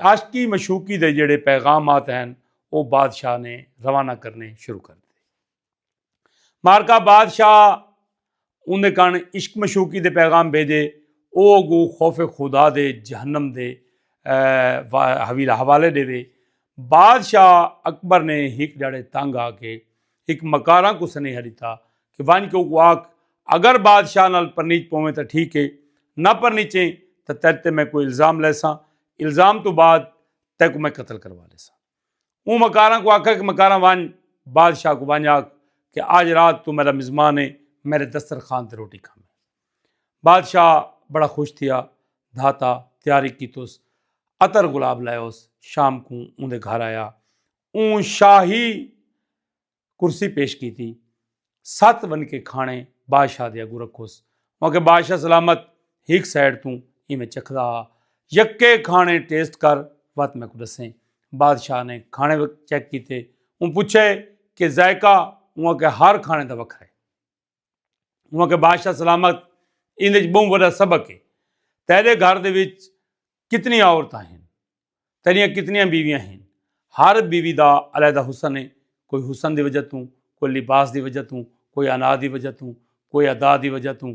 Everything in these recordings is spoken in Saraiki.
عاشقی مشوقی دے جیڑھے پیغامات ہن او بادشاہ نے روانہ کرنے شروع کر ڈتے۔ مارکا بادشاہ اوندے کن عشق مشوقی دے پیغام بھیجے او اگو خوف خدا دے جہنم دے حوالے ڈیوے۔ بادشاہ اکبر نے ہک ڈھاڑے تنگ آ کے ہک مکاراں کوں سنیہا ݙتا کہ ونڄ کے اوکوں آکھ اگر بادشاہ نال پرنیچ پوویں تاں ٹھیک ہے نہ پرنیچیں تاں تیݙ تے میں کوئی الزام لیساں الزام توں بعد تیکوں میں قتل کروا لیساں اوں مکاراں کوں آکھا کہ مکاراں ونڄ بادشاہ کوں ونڄ آکھ کہ آج رات توں میݙا مزمان ہے میݙے دسترخوان تے روٹی کھاویں بادشاہ بڑا خوش تھیا دھاتا تیاری کیتوس عطر گلاب لائوس شام کوں اوندے گھر آیا اوں شاہی کرسی پیش کیتی ست ون کے کھانے بادشاہ دے اگو رکھوس مگر بادشاہ سلامت ہک سائڈ توں ایویں چکھدا ہا یکے کھانے ٹیسٹ کر وت میں کو دسیں بادشاہ نے کھانے چیک کیتے اوں پوچھے کہ ذائقہ اوں کے ہر کھانے دا وکھرا ہے انہوں کہ بادشاہ سلامت اندر بہت بڑا سبق ہے تیرے گھر دے وچ کتنی عورتیں ہیں تیریاں کتنی بیویاں ہیں ہر بیوی دا علیحدہ حسن ہے کوئی حسن دی وجہ توں کوئی لباس دی وجہ توں کوئی انا دی وجہ توں کوئی ادا دی وجہ توں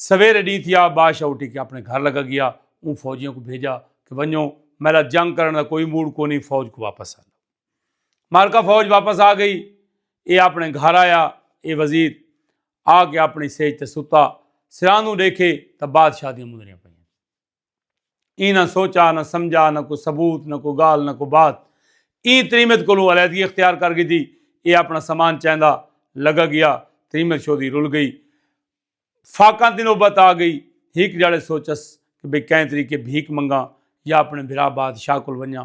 سویرے ڈینہہ تھیا بادشاہ اٹھی کے اپنے گھر لگا گیا اوں فوجیاں کو بھیجا کہ ونجو میلا جنگ کرن دا کوئی موڈ کونی فوج کو واپس آ مارکا فوج واپس آ گئی اے اپنے گھر آیا اے وزیر آ کے اپنی سیج تے ستا سراندوں دیکھے تا بادشاہ دیاں مندریاں پہ ایں نہ سوچا، نہ سمجھا، نہ کوئی ثبوت، نہ کوئی گالھ، نہ کوئی بات۔ ایں تریمت کولوں علیحدگی اختیار کر گھدی۔ ایہ اپنا سامان چیندا لگا گیا۔ تریمت شودی رل گئی۔ فاقاں دی نوبت آ گئی۔ ہک جھڑے سوچس کہ بھئی کئیں طریقے بھیک منگاں یا اپنے بھرا بادشاہ کول ونجاں۔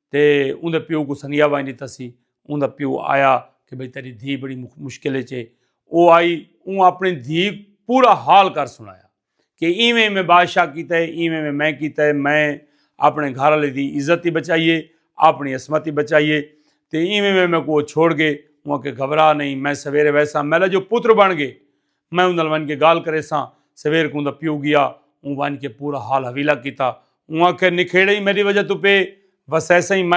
تے اوندے پیو کوں سنگیا ونج ݙتا سی۔ اوندا پیو آیا کہ بھئی تیݙی دھی بڑی مشکل اچ اے۔ او آئی اوں اپݨی دھی پورا حال کر سݨایا کہ ایویں ایویں بادشاہ کیتا اے ایویں ایویں میں کیتا اے میں اپݨے گھر آلے دی عزت ای بچائی اے اپݨی عصمت ای بچائی اے تے ایویں ایویں میکوں او چھوڑ ڳئے اوں آکھیا گھبرا نئیں میں سویرے ویساں میݙا جو پتر بݨ ڳئے میں اوں نال ونڄ کے ڳالھ کریساں، سویر کوں اوندا پیو ڳیا، اوں ونڄ کے پورا حال حویلا کیتا، اوں آکھیا نکھیڑے ای میݙی وجہ توں پئے وسیسئیں، میں۔